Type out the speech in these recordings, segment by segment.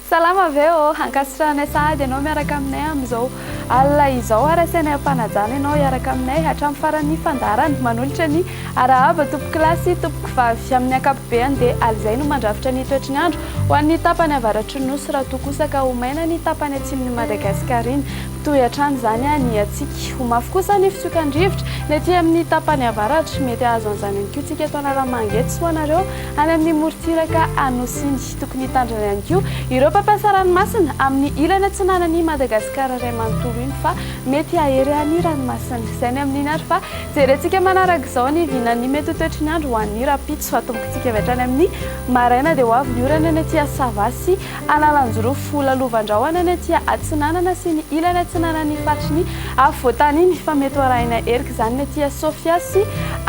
Salama ve ô, ankasitrahanay sahady ianao miaraka aminay amin'izao alina izao ary asainay ampanajana ianao hiaraka aminay hatramin'ny faran'ny fandaharana. Manolotra ny arahaba tompoko lahy sy tompoko vavy. Amin'ny ankapobeny dia alina izay no mandrafitra ny toetry ny andro ho an'ny tapany avaratry ny nosy raha toa kosa ka ho maina ny tapany atsimon'i Madagasikara iny. Toy hatrany izany ny hiantsika. Ho mafy kosa ny fitsokan'ny rivotra ny aty amin'ny tapany avaratra. Mety hahazo an'izany ihany koa isika eto Analamanga eto sy ho anareo any amin'ny morontsiraka Anosy iny. Tokony hitandrina ihany koa ireo mpampiasa ranomasina amin'ny ilany atsinanan'i Madagasikara iray manontolo iny fa mety hahery ny ranomasina. Izay ny amin'iny ary fa jerentsika manaraka izao ny vinan'ny mety ho toetry ny andro ho an'ny rahampitso. Atombokantsika avy hatrany amin'ny maraina dia ho avy ny orana ny aty Assava sy Analanjirofo, Lalovan-drahona ny aty atsinanana sy ny ilany atsinanan'ny faritry ny afovoantany iny fa mety ho arahina erika izany ny aty Sofia sy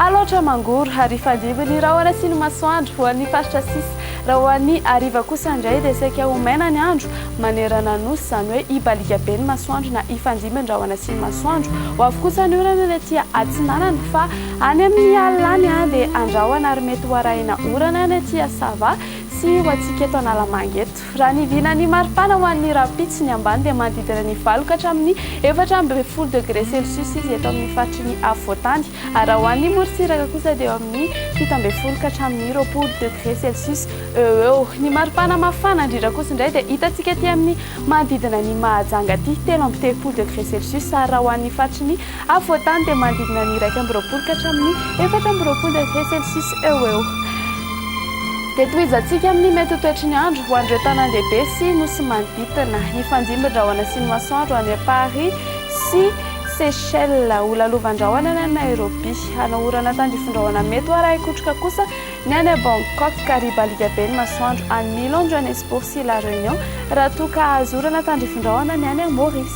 Alaotra Mangoro ary hifandimby ny rahona sy ny masoandro ho an'ny faritra sisa. Raha ho an'ny hariva kosa indray dia saika ho maina ny andro manerana ny Nosy izany hoe hibaliaka be ny masoandro na hifandimby ny rahona sy ny masoandro. Ho avy kosa ny orana ny aty atsinanana fa any amin'ny alina any dia andrahona ary mety ho arahina orana ny aty Sava Tsy ho antsika eto Analamanga eto. Raha ny vinan'ny maripana ho an'ny rahampitso, ny ambany dia manodidina ny valo ka hatramin'ny efatra ambin'ny folo degre celsius izy eto amin'ny faritry ny afovoantany, ary raha ho an'ny morontsiraka kosa dia eo amin'ny fito ambin'ny folo ka hatramin'ny roapolo degre celsius eo ho eo. Ny maripana mafana indrindra kosa indray dia hitantsika aty amin'ny manodidina an'i Mahajanga aty, telo amby telopolo degre celsius, ary raha ho an'ny faritry ny Afovoan-tany dia manodidina ny iraika amby roapolo ka hatramin'ny efatra amby roapolo degré Celsius eo ho eo. Dia tohizantsika amin'ny mety ho toetry ny andro ho an'ireo tanàndehibe sy nosy manodidina. Hifandimby ny rahona sy ny masoandro any Paris sy Seychelles. Ho lalovandrahona ny any Nairobi. Hanao orana tandrifindrahona mety ho arahin-kotroka kosa ny any Bangkok, ka ribaliaka be ny masoandro any Milan, Johannesburg sy La Réunion, raha toa ka hahazo orana tandrifindrahona ny any Maurice.